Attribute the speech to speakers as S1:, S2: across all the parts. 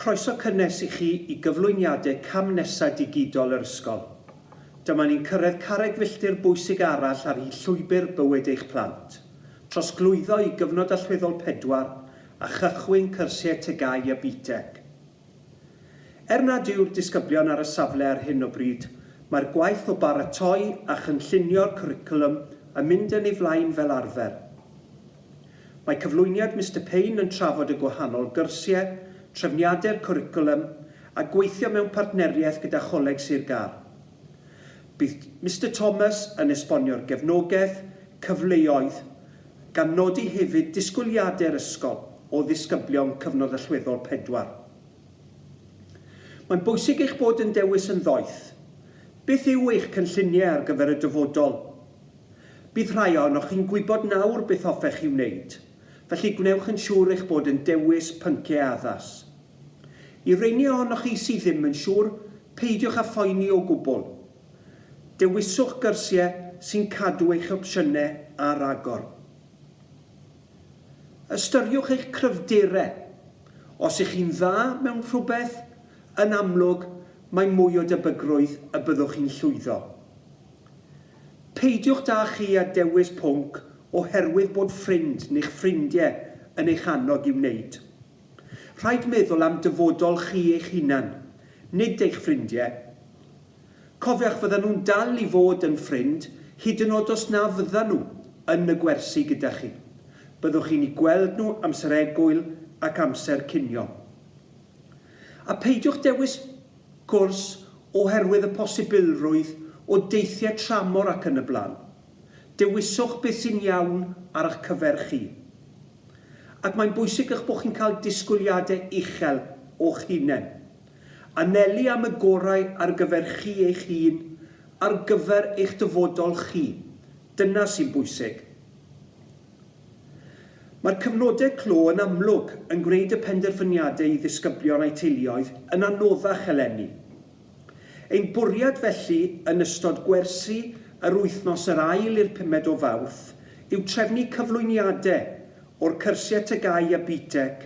S1: Croeso cynnes i chi i gyflwyniadau cam nesaf digidol yr ysgol. Dyma ni'n cyrraedd carreg filltir bwysig arall ar hyd llwybr bywyd eich plant, trosglwyddo i gyfnod allweddol pedwar a chychwyn cyrsiau TGAU a BTEC. Er nad yw'r disgyblion ar y safle ar hyn o bryd, mae'r gwaith o baratoi a chynllunio'r cwricwlwm yn mynd yn ei flaen fel arfer. Mae cyflwyniad Mister Payne yn trafod y gwahanol gyrsiau, trefniadau'r cwricwlwm a gweithio mewn partneriaeth gyda Choleg Sir Gâr. Bydd Mister Thomas yn esbonio'r gefnogaeth, cyfleoedd, gan nodi hefyd disgwyliadau'r ysgol o ddisgyblion Cyfnod Allweddol Pedwar. Mae'n bwysig eich bod yn dewis yn ddoeth. Beth yw eich cynlluniau ar gyfer y dyfodol? Bydd rhai ohonoch chi'n gwybod nawr beth hoffech chi wneud, felly gwnewch yn siŵr eich bod yn dewis pynciau addas. I reini ohonoch chi sydd ddim yn siŵr, peidiwch â phoeni o gwbl. Dewiswch gyrsiau sy'n cadw eich opsiynau ar agor. Ystyriwch eich cryfderau. Os ych chi'n dda mewn rhywbeth, yn amlwg, mae mwy o debygrwydd y byddwch chi'n llwyddo. Peidiwch da chi â dewis pwnc oherwydd bod ffrind neu'ch ffrindie yn eich annog i wneud. Rhaid meddwl am dyfodol chi eich hunan, nid eich ffrindie. Cofiwch fyddan nhw'n dal i fod yn ffrind hyd yn od os na fyddan nhw yn y gwersi gyda chi. Byddwch chi'n i gweld nhw amser egwyl ac amser cinio. A pheidiwch dewis cwrs oherwydd y posibilrwydd o deithiau tramor ac yn y blaen. Dewiswch beth sy'n iawn ar eich cyfer chi. Ac mae'n bwysig eich bod chi'n cael disgwyliadau uchel o'ch hunain. Anelu am y gorau ar gyfer chi eich hun, ar gyfer eich dyfodol chi. Dyna sy'n bwysig. Mae'r cyfnodau clo yn amlwg yn gwneud y penderfyniadau i ddisgyblion a'u teuluoedd yn anoddach eleni. Ein bwriad felly yn ystod gwersi yr wythnos yr ail i'r pumed o Fawrth yw trefnu cyflwyniadau o'r cyrsiau TGAU a BTEC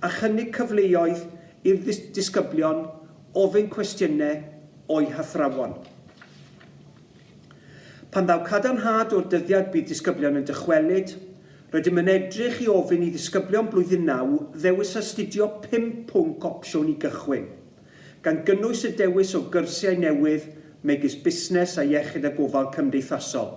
S1: a chynnig cyfleoedd i'r disgyblion ofyn cwestiynau o'u hathrawon. Pan ddaw cadarnhad o'r dyddiad bydd disgyblion yn dychwelyd, rydym yn edrych i ofyn i ddisgyblion Blwyddyn Naw ddewis astudio pum pwnc opsiwn i gychwyn, gan gynnwys y dewis o gyrsiau newydd megis Busnes a Iechyd a Gofal Cymdeithasol.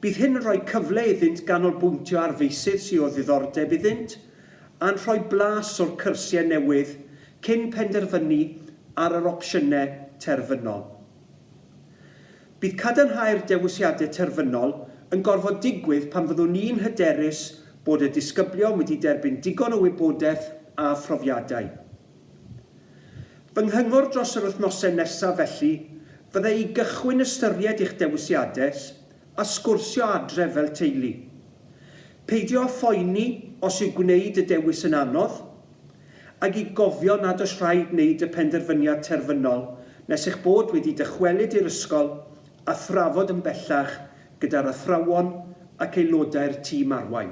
S1: Bydd hyn yn rhoi cyfle iddynt ganolbwyntio ar feysydd sydd o ddiddordeb iddynt a'n rhoi blas o'r cyrsiau newydd cyn penderfynu ar yr opsiynau terfynol. Bydd cadarnhau'r dewisiadau terfynol yn gorfod digwydd pan fyddwn ni'n hyderus bod y disgyblion wedi derbyn digon o wybodaeth a phrofiadau. Fy nghyngor dros yr wythnosau nesaf felly fydde i gychwyn ystyried eich dewisiadau A sgwrsio adref fel teulu. Peidio â phoeni os yw gwneud y dewis yn anodd, ac i gofio nad oes rhaid wneud y penderfyniad terfynol nes eich bod wedi dychwelyd i'r ysgol a thrafod yn bellach gyda'r athrawon ac aelodau'r tîm arwain.